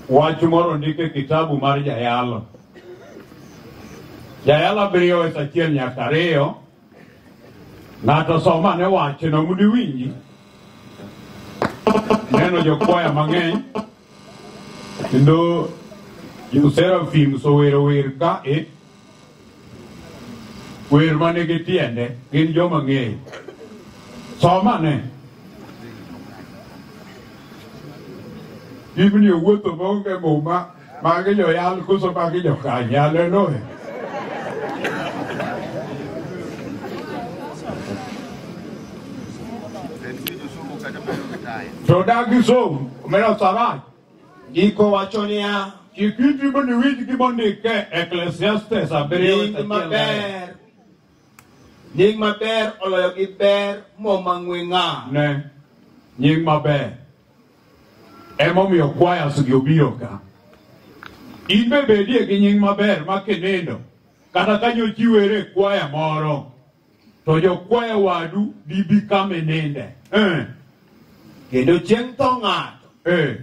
Wach moro ondik e kitabu mar Jayalo. Jayalo abiriyo wes achiel nyaka ariyo. Ng'ato som ane wachno mondo iwinji. Neno jokwaya mang'eny kendo joserafim sowero wer ka e wer ma nigi tiende gin joma ng'eyo somane biblia owuotho maonge muma magi joyal koso magi jokanye haleluya to dagi som omena samach Ndiko wacho niya, Chik iti mondo iwinj gima ondik e Eklesiastes abiriyo nying achiel ariyo. maber, nying maber oloyo gi ber moma ng'we ng'ar. Ne, nying maber. Emomiyo kwayas gi obiro ka. In be bedie gi nying maber ma kinindo, kata ka nyochiwere e kwaya moro, to jokwayo wadu dibi kama ininde Eh, kendo chieng' tho ng'ato eh,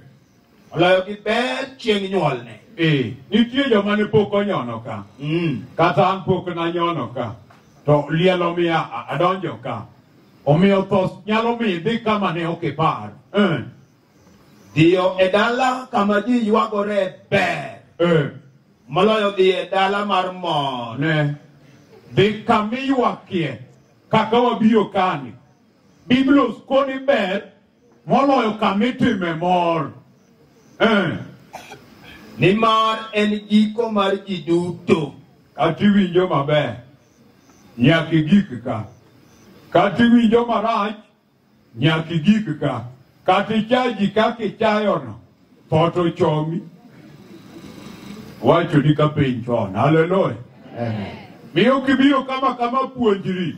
oloyo gi ber chieng' nyuolne eh. nitie joma ne pok onyono ka Mm. kata an pok nanyono ka to liel omiya a- adonjo ka omiyo tho nyalo mi idhi kama ne ok ipar Eh, Dhiyo e dala kama ji ywagore ber Eh, moloyo dhi e dala mar mor. ne. Dhi kama iywakie kaka wabiro kani. Biblos koni ber moloyo kama itime mor. Eh, Nimar en giko mar ji duto. kata iwinjo maber nyaka igik ka. Kata iwinjo marach Nyaka igik ka. Kata ichayo ji kaka ichayono, tho to chomi. Wachoni ka piny chon. Haleluya. Miyo kibiro kama kama puonjri.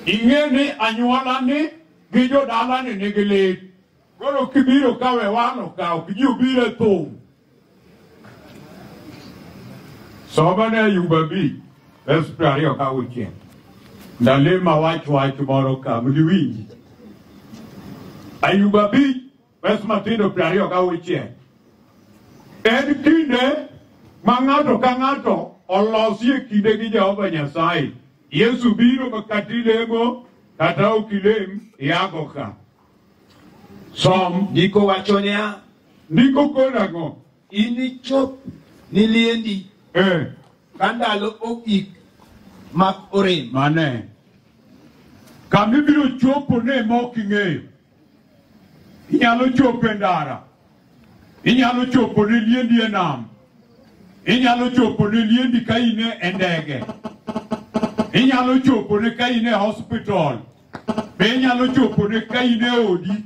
Ing'e ni anyuolani gi jodalani nigi lit. Koro kibiro ka we wano ka ok ji obiro e thum. Soma ne Ayuba bi verse piero ariyo ka auchiel. Nalima wach wach moro ka mniwinji. Ayuba bi verse matindo piero ariyo ka auchiel. En kinde ma ng'ato ka ng'ato olosie kinde gi Jehova Nyasaye. Yesu biro kata ilemo kata ok ilem iago ka. Som. Ndiko wacho niya, Ndiko koro ang'o? inichop ni liendi Eh, ka ndalo ogik mag orem. mane. Kama ibiro chopo ne ma ok ing'eyo. Inyalo chopo e ndara. Inyalo chopo ne liendi e nam. Inyalo chopo ne liendi ka in e ndege. Inyalo chopo ne ka in e hospital. Be inyalo chopone ka in e odi?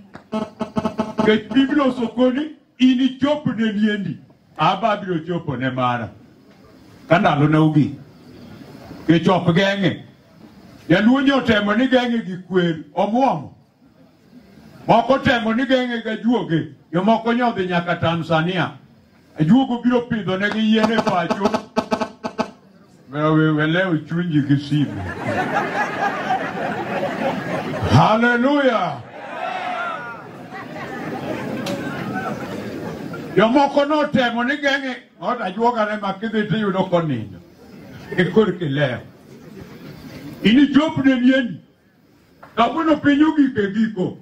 Nikech Biblia osokoni inichopne niendi. Aba abiro chopone mara. Ka ndalona ogik. Nikech ok geng'e. Jaluo nyo otemo ni geng'e gi kwer, omwomo. Moko temo ni geng'e gi ajuoge, jomoko nyo odhi nyaka Tanzania. Ajuogo biro pidho ne gi yien e pacho. Wewe leo chunji gi simu. Haleluya! Jomoko notemo ni geng'e ot ajuoga ne ma kidhi to iyudo konindo e korki leo. Inichop ne mieni. Kawuono piny ogik e giko.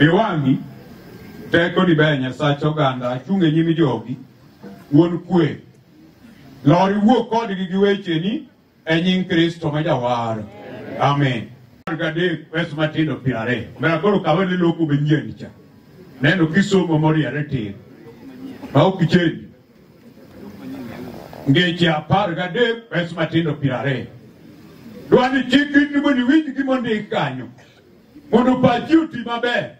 Iwang'i teko ni ber Nyasach oganda achung' e nyim jogi wuon kwe. Lor iwuo kodgi gi wecheni e nying Kristo ma jawar. Amen. Gadek wes matindo piero ariyo. Mera koro kawe ni loku be nyien cha. Neno kisomo moriere tir. Ma ok ichendi. ngeche apar gadek pes matindo piero ariyo dwani chik in mondo iwinj gima ondik kanyo mondo pachi oti maber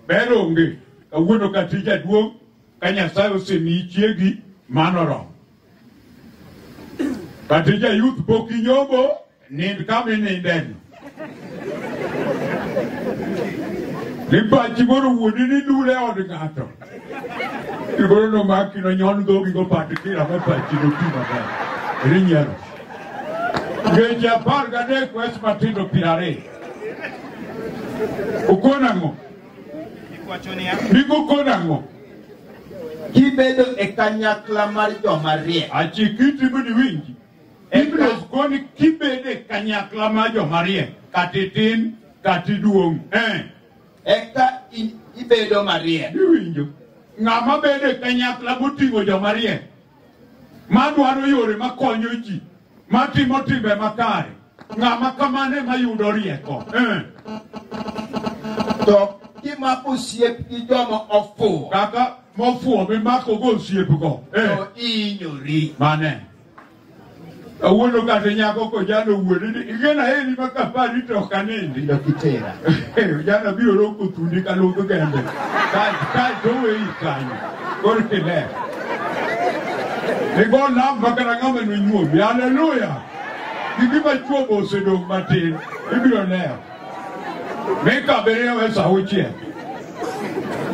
ber onge kawuono ka tij aduong' ka nyasaye osemiyi chiegi mano oromo ka tij ayuth pok inyomo Nind kama inindeno. Nipachi koro wuodi ni dule e od ng'ato. Koro nomaki nonyon dhogi gopati kira me pachi noti maber. Eri nyiero. Ngeche apar gadek wes matindo piero ariyo. Ukon ang'o? Ikwacho niya, Nikukon ang'o? Kibedo e kanyakla mar joma riek. Achikiti mondo iwinji. ibiro koni kibede kanyakla ma jomariek kata itin kata iduong' eh. eka i- ibedo mariek iwinjo ng'ama bedo e kanyakla moting'o jomariek madwaro yore makonyo ji matimo timbe makare ng'ama kamano ema yudo rieko eh. to kimako osiep gi joma ofuwo kaka mofuwo mimakogo osiepgo eh. to ihinyori mane Awuono kata nyako kojalo wuode ni igena heri ma kapari to ok anindi. Ilo kitera. Jana biro roko thundi ka lodho gembe. Ka ka to weyi kanyo. Kor kile. Igo nam makara ng'ama nonyuomi. Haleluya. Gigi ma chuobo osedong' matin. Ibiro leo. Mika abiriyo e saa auchiel.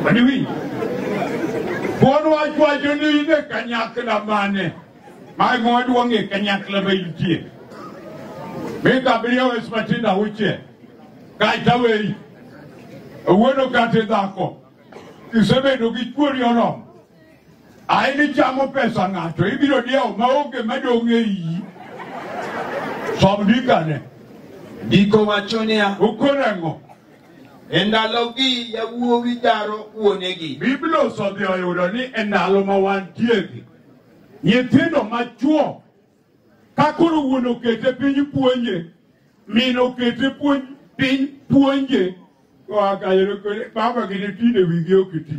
Madiwinj. Wuon wach wacho ni in e kanyakla mane ma emoduong' e kanyakla ma intie. Mika abiriyo e saa matindo auchiel. Kaeto aweyi. Wuono kata dhako. Isebedo gi chuori oromo. Ae nichamo pesa ng'ato, ibiro diewo maonge madong' e iyi. Som ndikane. Ndiko wacho niya, Ukone ang'o? e ndalogi yawuowi jaro wuonegi. Biblia osedhi oyudo ni e ndalo ma wantiegi, nyithindo machwo Ka koro wuon okete piny puonje, min okete puonj piny puonje, wakayero kore baba gine tinde wigi ok ti.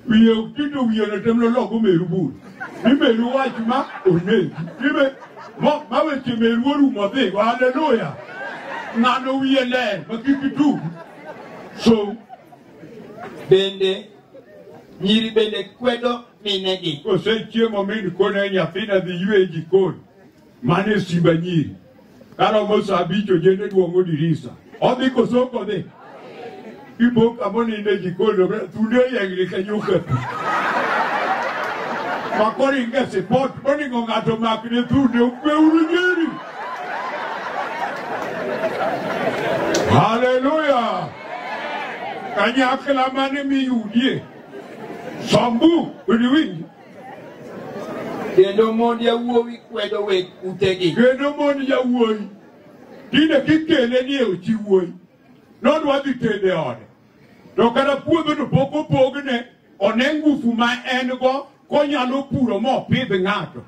Wiye ok ti to wiye no tem loloko meru bur. Ni meru wach ma onegi. Ni me mo ma weche meru orumo dhi. Haleluya. Ng'ano wiye ler ma kik tu. So bende Nyiri bende kwedo minegi. Osechiemo min kone nyathina dhi ywe e jikon. Mano e simba nyiri. Karomo sa abich ojende duong'o dirisa. Odhi koso ok odhi? Ibo kamo nindo e jikon to bre- thunde oyengni ka nyuka pi. Ma koro inge sipot monego ng'ato makne thunde okweuru nyiri. Hallelujah. kanyakla mane miyudie sombu odiwinji kendo mond yawuowi kwedo weg utegi kendo mond yawuowi tinde kikele ni e ochi wuoyi nodwa dhi tede ode to kata puodhono pok opogne one ngufu ma en go konyalo puro mopidh ng'ato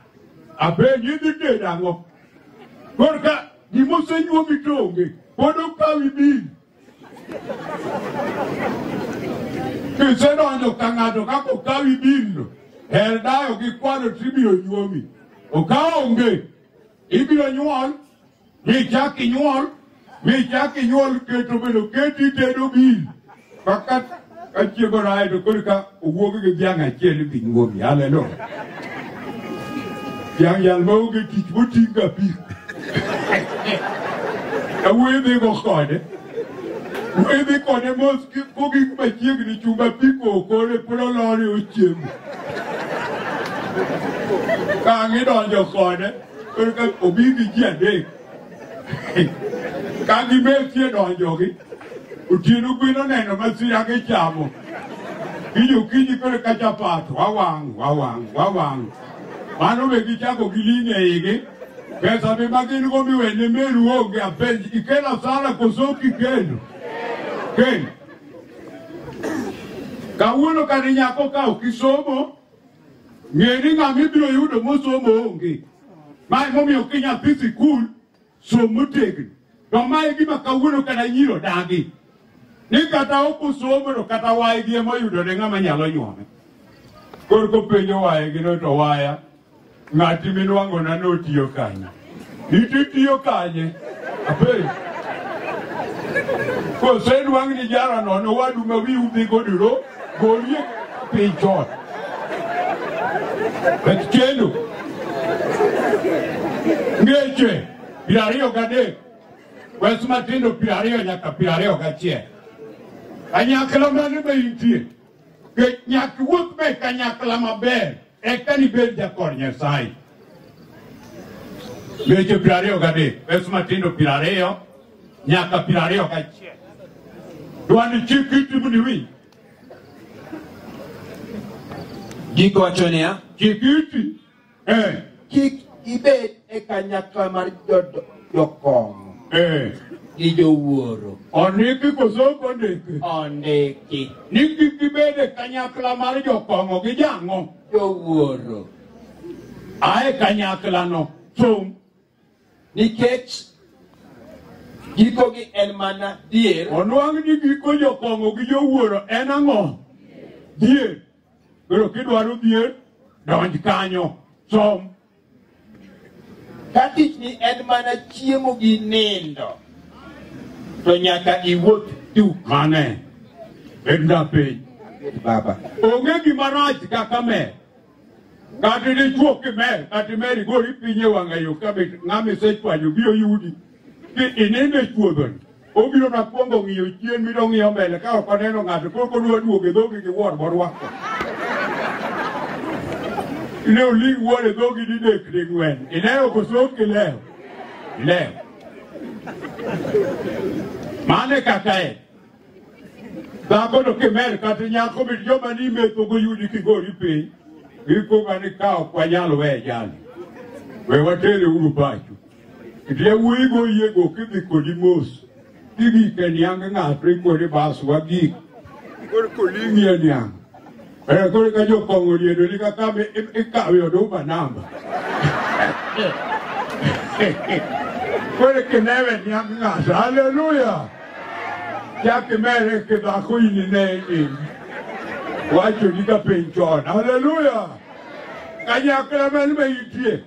apenji idhi tedo ang'o korka Gima osenyuomi to onge, pod okawi bil. Kisedonjo ka ng'ato kaka okawi bilno, her dayo gi kwano to ibiro nyuomi. Okawo onge, ibiro nyuol, michak inyuol, michak inyuol keto bedo keti itedo bil. Kaka kachiego raye to koro ka owuog gi dhiang' achiel idhi nyuomi. Haleluya. Dhiang' jal ma onge tich moting' ka pi. Awuoyo dhigo kode. Wuoyo dhi kode mos ki- kogik machiegni chumba pi kokore pod olore ochiemo. Ka ang' idonjo kode koro ka obi gi ji adek. ka gibetie donjogi otieno gwen oneno masira gichamo kijo kiny kore ka chapat wawang' wawang' wawang' mano be gichako giling' e igi pesa be ma gin go miwene meru onge apenj ikelo asara koso kikelo kendo kawuono kane nyako ka ok isomo Ng'e ni ng'ama ibiro yudo mosomo onge. Ma emomiyo ki nyathi sikul som motegno. To ma e gima kawuono kata nyiri odagi. Ni kata ok osomo to kata waygi ema oyudone ng'ama nyalo nyuome. Koro kopenjo waygi no to waya ng'ati minwang'ona notiyo kanyo. Iti itiyo kanye? Apenjo. Kose dwang' ni jara nono wadu ma wiu dhi godiro golie piny chon. Bet kendo. Ngeche piero ariyo gadek. Wes matindo piero ariyo nyaka piero ariyo gachiel. Kanyakla mane ma intie? Nyak wuoth be kanyakla maber. Eka nibed jakor Nyasaye. Weche piero ariyo gadek, Yesu matindo piero ariyo nyaka piero ariyo gachiel. Dwani chik iti mondo iwinj. Gik wacho niya, Chik iti. Eh. kik ibed e kanyakla mar jodo jokong'o Eh, gi jowuoro ondiki koso ok ondiki ondiki ni kik gibed e kanyakla mar jokong'o gi jang'o jowuoro ae kanyaklano chung' nikech gikogi en mana dier onwang' ni giko jokong'o gi jowuoro en ang'o dhier koro kidwaro dhier donj kanyo som Ka tichni en mana chiemo gi nindo, to nyaka iwuoth duk. Mane. Bedna piny. Baba. Onge gima rach kaka mer. Kata dichuo kimer, kata imeri gori piny e wang'ayo ka be ng'ama isechwanyo biro yudi. Ki inindo e chuodhoni, obiro na kwongo ng'iyo chien mi dong'iyo mbele ka ok oneno ng'ato koro kodwa duogo e dhogi gi wuon morwako. Ne oling wuon e dhogi didek ding'wen. Ilewo koso ok ilewo? Ilewo. Mane kaka en. Dhako to kimer kata nyako mit joma ni metho goyudi kigori piny. Gikuga ni ka ok wanyal weye jali. We watere uru pacho. Yawuoyi go yie go kidhi kodi mos kidhi ke niang' ng'ato ikodi bas wagik koro koling'i e niang' Eh, koro ka jokong'o riedo ni kaka mi- i- ikawe oduma namba koro kinewe niang' ng'ato haleluya chak imere kidhako in ine in wachoni ka piny chon haleluya kanyakla man ma itie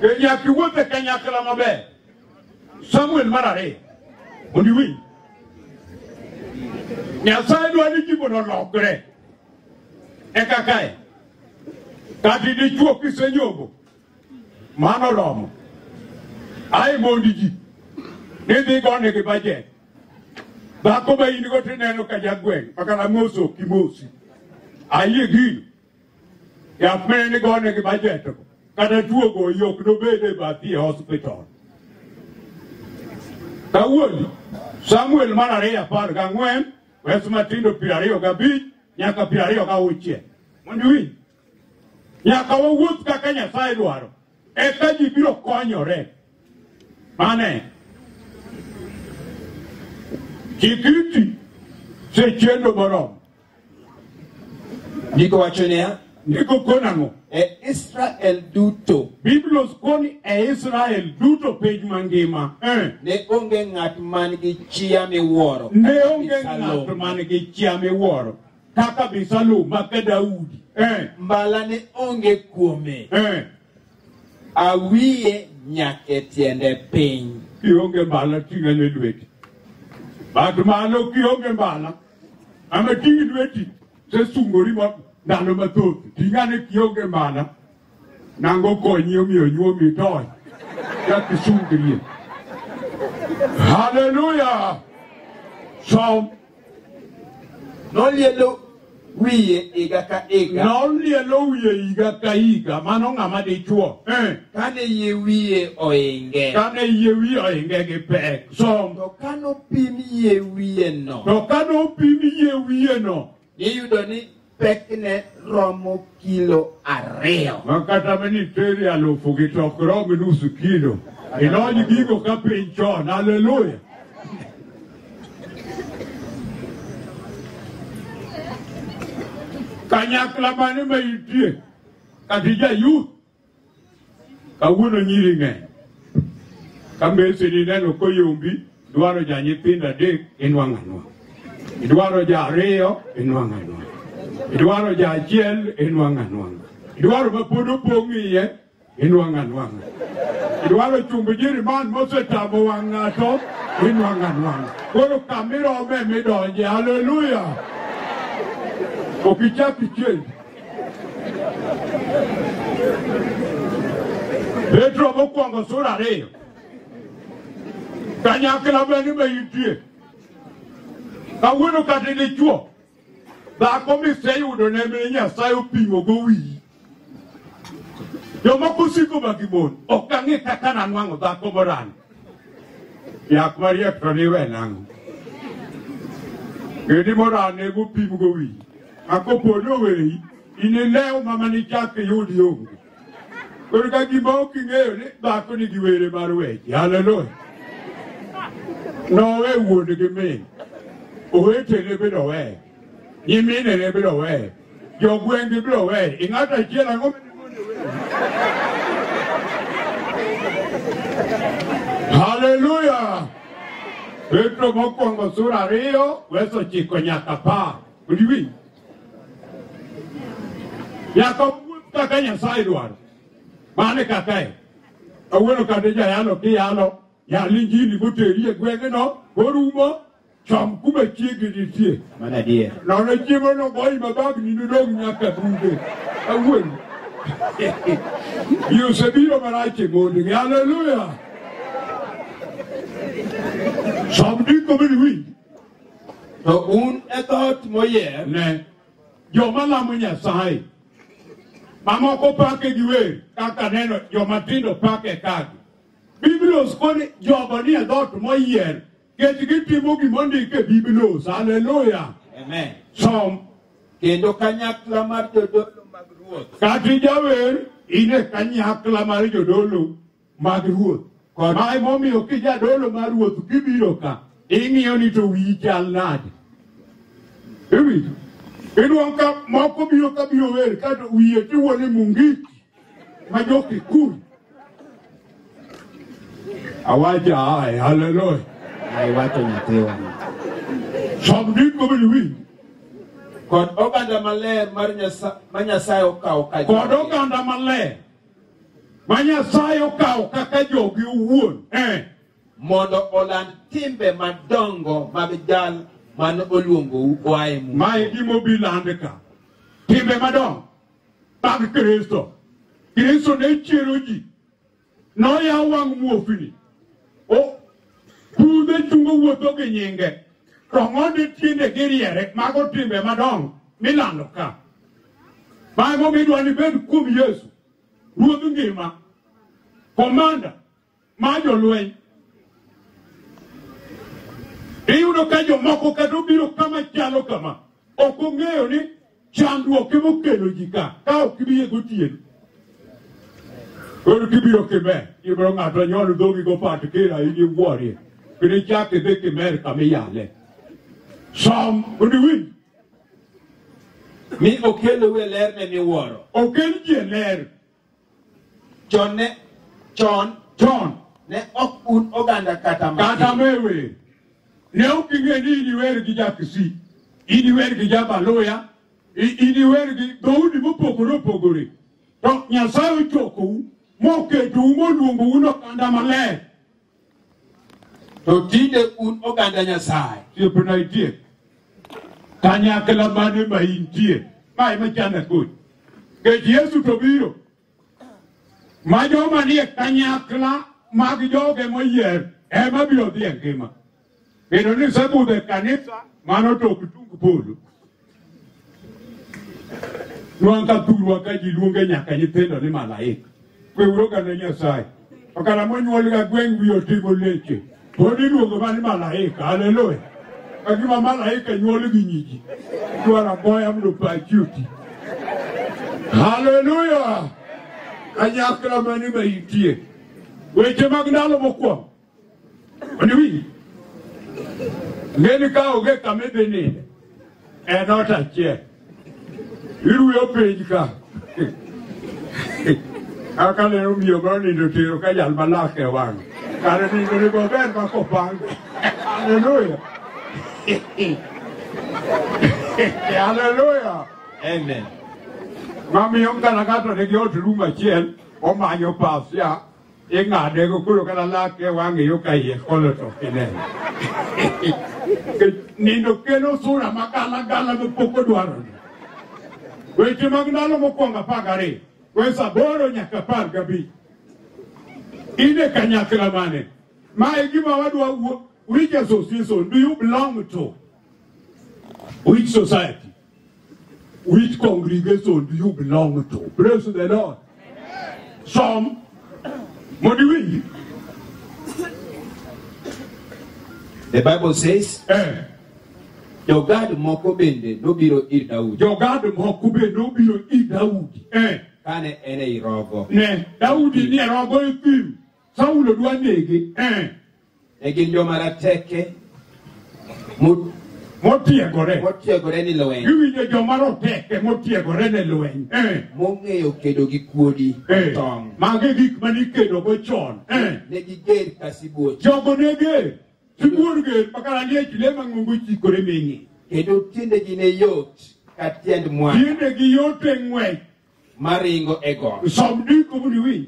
E nyaka iwuoth e kanyakla maber. Samuel mar ariyo. Mondo iwinj. Nyasaye dwa ni ji mondo olokre. Eka kae. Kati dichuo kisenyogo. Mano oromo. Ae mondi ji. Nidhi gone gi bajet. Dhako ma in go tineno ka jagweng' makana moso kimosi. Ayie gino. Yath ma en gone gi bajet go kata tuo go yok nobed e bathi e hospital. Kawuono Samuel mar ariyo apar gang'wen wes matindo piero ariyo gabich nyaka piero ariyo gauchiel. Mondo iwinj nyaka wawuoth kaka Nyasaye dwaro eka ji biro konyore. Mane chikiti sechendo moromo Ndiko wacho niya, Ndiko koni ang'o? e Israel duto Biblia koni e Israel duto piny mangima. Eh. ne onge ng'at man gi chia miwuoro. Ne kaka onge Abisalom. ng'at man gi chia miwuoro kaka Abisalom maka Daudi. Eh. Mbala ne onge kuome. Eh. Awiye nyake tiende piny. Kionge mbala ting'ane lweti. Bat malo kionge mbala. Ama ting' lweti sesungori ma ndalo mathoth ting'ane kionge mana nango konyi omiyo nyuomi tony kakisungrie. Haleluya! Som Nolielo wiye higa ka higa. Nolielo wiye higa ka higa, mano ng'ama dichuo. Eh. Kane yie wiye oinge. Kane yie wiye oinge gi pek. som. To ka nopim yie wiyeno. To ka nopim yie wiyeno. Iyudo ni pekne romo kilo ariyo. Ma kata ma ni teri alufu gi to ok rom nusu kilo. Ilony gigo ka piny chon. Haleluya. Kanyakla mane ma itie? Kati jayuth. Kawuono nyiri ng'eny. Ka mese ni neno koyombi, dwaro ja nyithindo adek inwang'o anwa. Idwaro ja ariyo inwang'o anwa. Idwaro ja achiel inwang'o anwang'a. Idwaro ma pod opong' iye inwang'o anwang'a. Idwaro chumb jiriman mosetamo wang' ng'ato inwang'o anwang'a. Koro kamirome midonje. Haleluya! Ok ichak ichiendi. Petro mokwongo sura ariyo kanyakla bende be nitie kawuono kata dichwo dhako miseyudo ne mine nyasaye opimo go wiyi jomoko osiko ma gimon ok ang'e kaka nanwang'o dhako morano yak mariek to niwe nang'o gidi morano nego opim go wiyi Akopo ni oweyi, inilew ma mane ichak iyud yongo. Koro ka gima ok ing'eyo ni dhako nigi were mar weche. Haleluya. Nowe wuon gi min. Owetene biro weye. Nyiminene biro weye. Jogweng'gi biro weye. I ng'ato achiel ang'o mane wuon oweyo? Haleluya! Petro mokwongo sura ariyo weso chiko nyaka apar. Odi winj. Nyaka wuoth kaka Nyasaye dwaro. Mane kaka e. Kawuono kande jayalo kiyalo yal injili moteri e gweng'no orumo chom kuma chiegi nitie. Mana adier. Nono chiemo no goyi mabagni nodong' nyaka bunge. Awuoyi. Ji osebiro marach e mondgi. Haleluya. Som ndiko mini winj. To un e dhoot moyier. Ne, joma lamo Nyasaye mamoko pake gi wer kaka neno joma tindo pake kagi. Biblos koni jogo ni e dhoot moyier kech gitimo gimondik e Biblos. Haleluya! Amen. Som Kendo kanyakla mar jodolo mag ruoth. kati jawer in e kanyakla mar jodolo mag ruoth kod Ma emomiyo kijadolo mar ruoth kibiro ka ing'iyo ni to wiyi chal nade. Iwinjo? Inuang' ka moko biro ka biro wer ka to wiye tiwo ni Mungiki ma jo Kikuyu. Awaja aye, haleluya. Ai wacho nyathiwa. Som ndiko bende winj. Kod oganda maler mar Nyasaye ma Nyasaye okawo ka Kod oganda maler ma Nyasaye okawo kaka jogi owuon eh. mondo oland timbe madongo mag jal mane oluongou oa e mudho. ma e gima obi lande ka timbe madongo mag kristo kristo ne chiero ji noyawo wang' muofni O- pudhe chungo wuotho gi nyinge to ng'onde tiende gi riere mago timbe madongo milando ka Mano momiyo idwa ni ibed kuom Yesu, ruodh ngima, komanda ma jolweny. Iyudo ka jomoko kata obiro kama chalo kama, ok ong'eyo ni chandruok ema okelo ji ka, ka ok ibiye gotieno. Koro kibiro kimer, ibiro ng'ato nyol dhogi go pat kira in iwuorie. Kendo ichak idhi kimer kama iyale. Som, odiwinj. mi okelou e lerne miwuoro okel ji e ler chon ne chon chon ne ok un oganda kata matin. kata mewe ne ok ing'e ni iniwer gi jakisi iniwer gi jabaluya i- iniwer gi dhoudi mopogore opogore to nyasaye ochokou moketou moluongou nokanda maler To tinde un oganda Nyasaye. Siepna itie. Kanyakla mane ma intie. Ma ema chanda kodi. Kech Yesu to biro. Ma joma nie kanyakla mag joge moyier ema biro dhi e ngima. Kendo ni isebudho e kanisa mano to ok tung polo. Nwang' ka thurwa ka ji luonge nyaka nyithindo ni malaika. Kweuru oganda Nyasaye. Okala monyuol ga gweng' wiye otimo leche. Pod iluongo ma ni malaika. Haleluya. Ka gima malaika nyuol gi nyiji. Dwaro aboya mondo pachi oti. Haleluya. Kanyakla mani ma itie. Weche mag ndalo mokwongo. Oniwinj? Ng'eni ka onge kama idhi ninde, en ot achiel. Iruyo piny ka. Kaka neno miyo ma onindo tero ka jal malak e wang'e. Kare nindo ni maber ma kopang. Haleluya. Haleluya. Amen. Mamiyo ngana ng'ato nigi ot rum achiel, omanyo pasia, ing'ade go koro kata lake wang'e yo ka iye kolo to ok ineno Nikech nindo kelo sura ma gala gala ma pok odwaroni weche mag ndalo mokwongo apar gariyo wes aboro nyaka apar gabich in e kanyakla mane ma e gima wadwa wuo which association do you belong to which society Which congregation do you belong to? Praise the Lord. Some modiwi. The Bible says, Eh, Jogad moko bende nobiro ir Daudi jogad moko be nobiro i Daudi. Eh, kane en ei rogo. ne Daudi ni e rogo e thim. Saulo dwa nege. Eh, Ne gin joma rateke mo- motiegore motiegore ni lweny iwinjo joma roteke motiegore ne lweny Eh, mong'eyo kedo gi kuodi eh. tong'. mago e gik mane ikedogo chon Eh, Ne giger ka sibuoche jogo ne ger sibuor ger makara ni e chule mang'ongo chikore ming'e kendo tiendegi ne yot ka tiend mwana tiendegi yot e ng'wech maringo e got. som ndiko mondo iwinj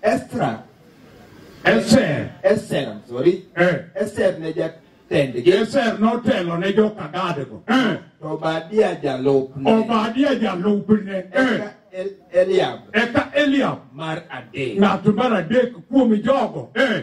Estra. Eser. Eser, I'm sorry. Eh. Eser ne jatendgi. Eser notelo ne joka Gadgo. Eh. To Obadia jalupne. Obadia jalupne. Eh. Eka El- Eliab Eka Eliab. mar adek. Ng'at mar adek kuom jogo. Eh.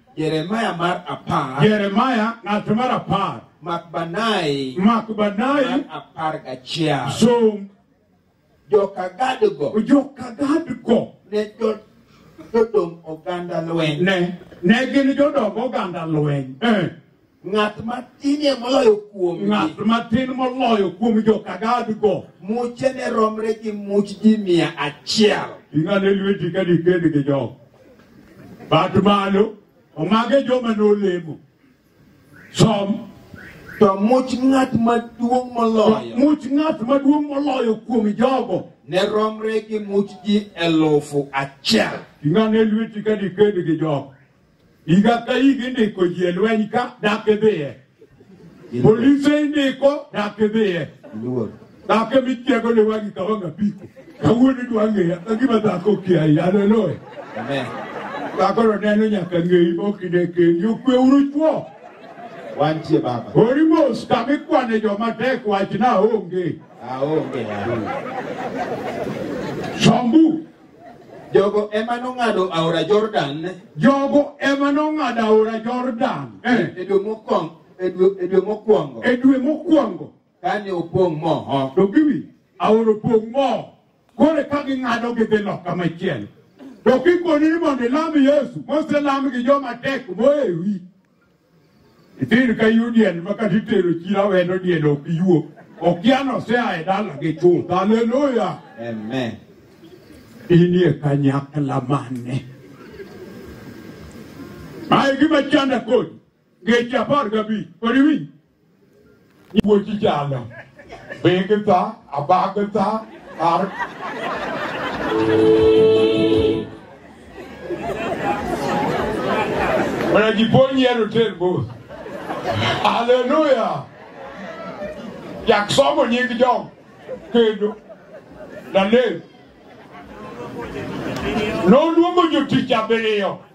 Jeremiah mar apar, Jeremiah ng'at mar apar, Makbanai mar Makbanai apar gachiel. som Joka Gadgo joka Gadgo ne jo- jodong oganda lweny. ne ne gin jodong oganda lweny. Eh, Ng'at matinie moloyo kuom ng'at matin moloyo kuom joka gadgo muche ne romre gi much ji mia achiel. ing'ane lweti ka dikend gi jok bat malo omage joma nolemo som To much ng'at maduong' moloyo much ng'at maduong' moloyo kuom jogo ne romre gi much ji elufu achiel. ing'ane lweti ka dikend gi jok Higa ka higa indiko ji e lweny ka dak idhiye. Polise indiko dak idhiye. Luor. Dak ema itiego ne wagi ka wang' apiko. Kawuono idwa ng'eya ka gima dhako okiayi. Haleluya. Amen. Dhakoro neno nyaka ng'eyi mokine kendi. Okwe uru chwo. Wantie baba. Ori mos kama ikwane joma tek wachna onge. Aonge. Aonge. Sombu. Jogo ema nong'ado aora Jordan. Jogo ema nong'ado aora Jordan. Eh. E dwe mokwongo. E dwe, e dwe mokwongo. E dwe mokwongo. Kane opong' moho. To giwi aora opong' moho. Kore ka ging'ado gidhi loka machielo. To kikoni ni mondo ilam Yesu, moselam gi joma tek moewi. Ithin ka yudiel ma kata itero chiro awendo diel ok yuo. Okia nosea e dala gi chuth. Haleluya. Amen. Inie kanyakla mane? Mae gima chanda kodi. Ngeche apar gabich. Kodi winj. ibochi jalo begta abagta ar mana jiponyiero ter bos haleluya jak somo nying jok kendo nalem noluongo jotich abiriyo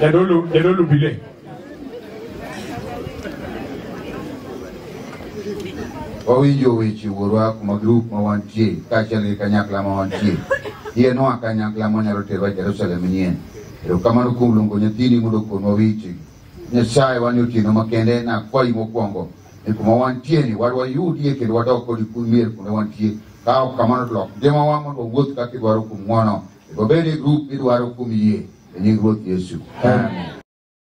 jadolo jadolo bile wawinjo weche wuorwa kuma grup ma wantie kaachiel gi kanyakla ma wantie yienwa kanyakla manyalo terwa jerusalem nyien erokamano kuom luongo nyathini mondo konwa weche nyasaye wan otieno makende nakwayi mokwongo ni kuma wantie ni wad wayudie kendo wadok kodi kumier kuma wantie ka ok kamano to lok ngimawa mondo wawuoth kaka idwaro kuom ng'wono Go bed e grup midwaro kuom yie e nying Ruoth Yesu. Amen.